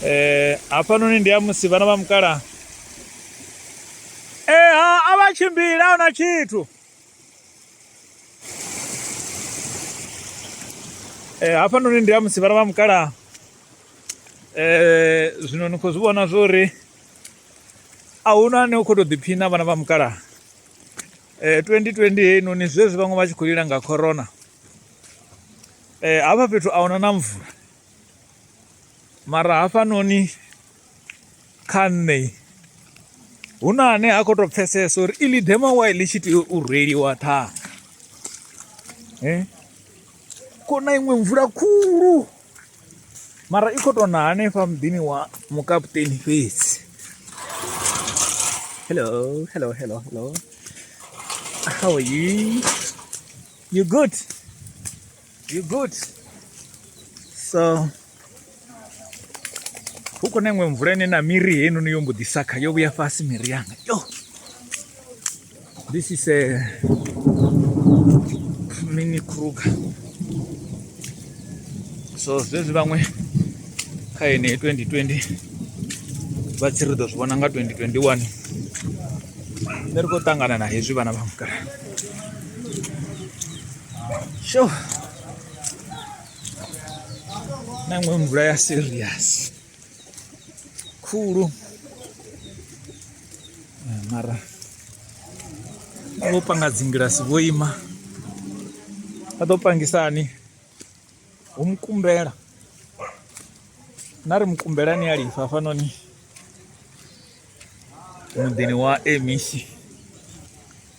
eh hafhanoni ndi ya musi vhana vha mukala eh ha a vha tshimbila a huna tshithu eh hafhanoni ndi ya musi vhana vha mukala eh zwino ni khou zwi vhona zwo uri a huna ane u khou tou ḓiphina vhana vha mukala eh 2020 heinoni zwezwi vhaṅwe vha tshi khou lila nga corona eh hafha fhethu a huna na mvula mara hafhanoni kha nṋe hu na ane a khou tou pfhesesa uri iḽi dema wa ḽi tshi tea u rweliwa ṱhanga e kona iṅwe mvula khulu mara i khou tou na hanefha muḓini wa mukaputeni fhedzi hello hello hello hello how are you you good You good? So huko na iṅwe mvula ine na miri heinoni yo mbo ḓi sakha yo vhuya fhasi miri yanga yo this is a mini kruger so zwezwi vhaṅwe kha yeneyi 2020 vha tshi ri ḓo zwi vhona nga 2021 nṋe ri khou ṱangana na hezwi vhana vha mukala Sho. Nangwe mvura ya serious. Khulu. Eh, mara vho panga dzingilasi vho ima vha ḓo pangisani hu mukumbela na ri mukumbela ni a lifha hafhanoni muḓini wa mec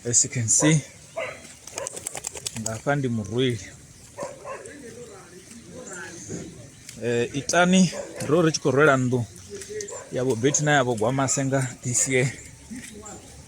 as you can see ngafha ndi murweli eh, itani ro ri tshi khou rwela nnḓu yavho beti na yavho gwamasenga this year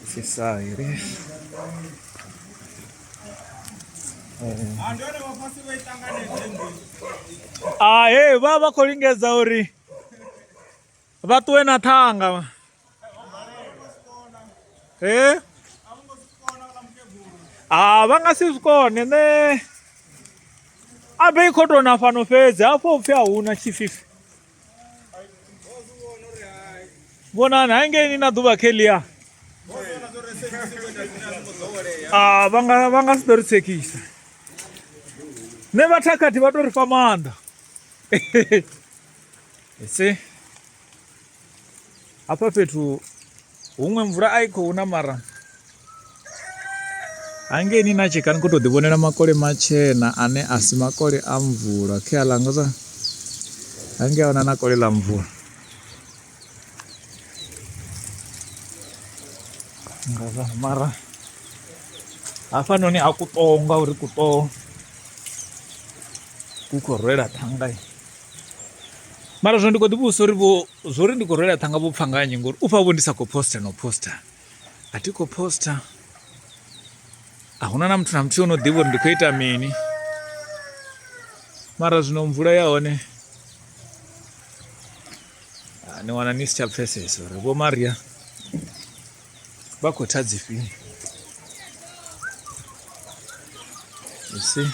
This is Cyrus. Ah, hey, vha vha khou lingedza uri vha ṱuwe na ṱhanga. Eh? Ah, vha nga si zwi kone nṋe a vhe i khou tou na fhano fhedzi hafho upfhi a huna tshififi. vhona na engeni na ḓuvha khelia a ah, vha nga vha nga si ḓo ri tsekisa nṋe vhathakhathi vha tou ri fa maanḓa ese hafha fhethu Huṅwe mvula a i khou na mara hangeni na tshekani ku tou ḓivhonela makole matshena ane a si makole a mvula khe a langa sa hangei a ona na kole ḽa mvula ngaza mara hafhanoni ha kuṱoo ngauri kuṱoo ku khou rwela ṱhangai mara zwino ndi kho ḓi vhudzisa uri vho zwo ri ndi khou rwela ṱhanga vho pfha nga nnyi ngori u pfha vho ndi sa khou poster no poster a thi khou poster a huna na muthu na muthu o no ḓivha uri ndi khou ita mini mara zwino mvula ya hone ni wana ni si tsha pfhesesa uri vho maria vha khou tha dzifhini you see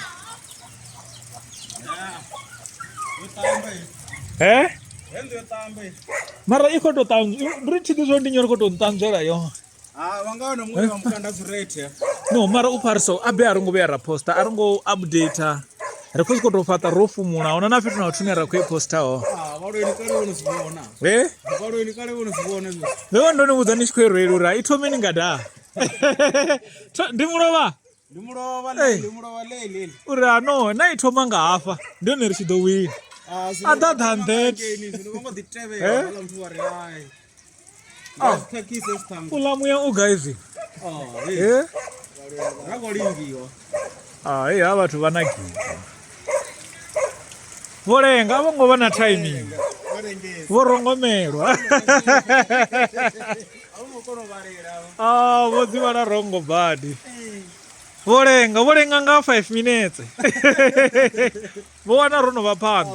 eh mara i khou tou ṱanzwa ri thi ḓi zwo ndi nyori khou tou nṱanzwela yo ah, eh? no mara u pharisa a be a ri ngo vhuya ra posta a ri ngo updata ri khou si khou tou fhaṱa ro fumula hona na fhethu na vhathu ne ra khou i posta ho ah, he vhewa ndo ni vhudza ni tshi khou irweli uri a i thomi ni nga daa ndi mulovha uri ano na i thoma nga hafha ndi yone ri tshi ḓo wina other than that ula muya u guys oh, eh? Ah, hei ha vhathu vha na gidi vho lenga a vho ngo vha na timing vho rongomelwa a ah, vho dzi vhala rongo badi vho lenga vho lenga nga five minutes vho wana ro no vha phanḓa